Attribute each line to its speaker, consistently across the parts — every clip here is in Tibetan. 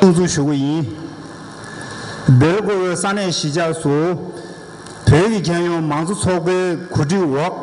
Speaker 1: གསུང་ཞུ་རྒྱུ་ཡིན། སྡེར་བཀོལ་བའི་ས་གནས་གཞིས་ཆགས་སུ། བོད་ཀྱི་རྒྱལ་ཡོངས་མང་གཙོ་ཚོགས་པའི་གོ་སྒྲིག་འོག་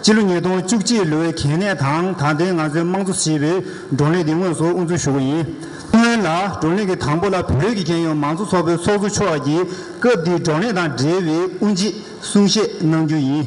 Speaker 1: ཕྱི་ལོ་ཉིས་སྟོང་བཅུ་གཅིག་ལོའི་གལ་གནད་དང་དང་ལྡན་ང་ཚོའི་དམངས་གཙོ་ཞེས་པའི་བགྲོ་གླེང་འདི་དངོས་སུ་དབུ་འཛུགས་ཞུ་བ་ཡིན། སྔོན་ལ་བགྲོ་གླེང་གི་དང་པོ་ལ་བོད་ཀྱི་རྒྱལ་ཡོངས་མང་གཙོ་ཚོགས་པའི་ཚོགས་གཙོ་མཆོག་གིས་སྐབས་དེའི་བགྲོ་གླེང་དང་འབྲེལ་བའི་དབུ་འབྱེད་གསུང་བཤད་གནང་རྒྱུ་ཡིན།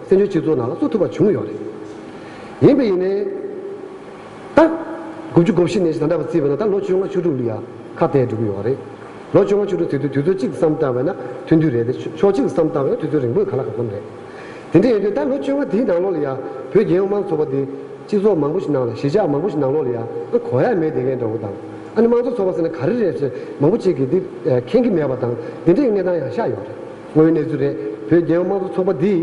Speaker 2: བཙན་བྱོལ་སྤྱི་ཚོགས་ནང་ལ་གཏོད་ཐུབ་པ་བྱུང་ཡོད་རེད། ཡིན་པས་ཡིན་ནའི། ད། དགུ་བཅུ་གོ་བཞི་ནས་བཞི་དང་འདྲ་བར་བརྩིས་པས་ན་ད་ལོ་བཅོ་ལྔ་བཅུ་དྲུག་ལུས་ཡ། ཁ་བརྡས་འགྲོ་གི་ཡོད་རེད། ལོ་བཅོ་ལྔ་བཅུ་དྲུག་དེ་དུས་དུས་ཚོད་གཅིག་བསམ་བཏང་བས་ན་ཐུན་དུས་རེད་དེ། ཕྱོགས་གཅིག་བསམ་བཏང་བས་ན་དུས་ཚོད་རིང་པོས་ག་ལ་ག་གོམས་རེད། དེ་འདྲ་ཡིན་དུས་ད་ལོ་བཅོ་ལྔ་དེའི་ནང་ལོགས་ལ་ཡ། བོད་རྒྱལ་ཡོངས་དམངས་ཚོགས་པ་དེ། སྤྱི་ཚོགས་མང་པོ་ཞིག་ནང་ལ་གཞིས་ཆགས་མང་པོ་ཞིག་ནང་ལོགས་ལ་ཡ། ཨ་གོ་ཡ་མེད་དེ་མཁན་འདྲ་བོ་དང། ཨ་ནི་དམངས་གཙོ་ཚོགས་པ་ཟེར་ན་ག་རེ་རེད་ཟེར་མང་པོ་ཅིག་གིས་དེ། མཁན་གི་མེད་པ་དང་དེ་འདྲའི་གནས་སྟངས་ཡང་ཤར་ཡོད་རེད། དངོས་གནས་ཚུ་རེད་བོད་རྒྱལ་ཡོངས་དམངས་གཙོ་ཚོགས་པ་འདི་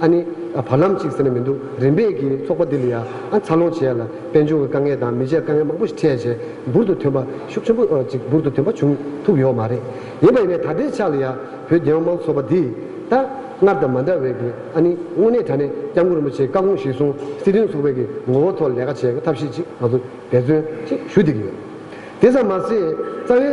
Speaker 2: ཨ་ནི། བར་ལམ་ཅིག་ཟེར་ན་མི་འདུག་རིམ་པས་ཀྱིས་ཚོགས་པ་འདི་ལ་ཡང་ཨ་འཚར་ལོངས་བྱས་ཡ་ལ་དཔལ་འབྱོར་གྱི་དཀའ་ངལ་དང་མི་ཆའི་དཀའ་ངལ་མང་པོ་ཞིག་འཕྲད་རྗེས་འབུར་དུ་ཐོན་པ་ཤུགས་ཆེན་པོ་ཅིག་འབུར་དུ་ཐོན་པ་བྱུང་ཐུབ་ཡོད་མ་རེད། ཡིན་པ་ཡིན་ནའི་ད་ལྟའི་ཆ་ལ་ཡང་བོད་རྒྱལ་ཡོངས་དམངས་གཙོ་ཚོགས་པ་འདི་ད་སྔར་དང་མ་འདྲ་བས་ཀྱིས་ཨ་ནི་དངོས་གནས་ད་ནས་སྐྱབས་མགོན་རིན་པོ་ཆེའི་བཀའ་དགོངས་གཞིར་བཟུང་སྲིད་དོན་ཚོགས་པའི་ཀྱི་ངོ་བོ་ཐོག་ལས་ཀ་བྱེད་ཐབས་ཤེས་ཅིག་ང་ཚོ་འབད་བརྩོན་ཞིག་ཞུ་འདོད་ཀྱི་ཡོད། དེ་ཙམ་མ་ཟད་རྩ་བའི།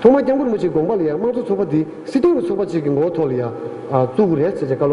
Speaker 2: ཐོག་མར་སྐྱབས་མགོན་མུ་ཆེའི་དགོངས་པ་ལ་ཡང་དམངས་གཙོ་ཚོགས་པ་འདི་སྲིད་སྐྱོང་གི་ཚོགས་པ་གཅིག་གི་མགོ་ཐོག་ལ་ཡང་གཙུག་རེག་བྱེད་ཆེད་བཀའ་སློབ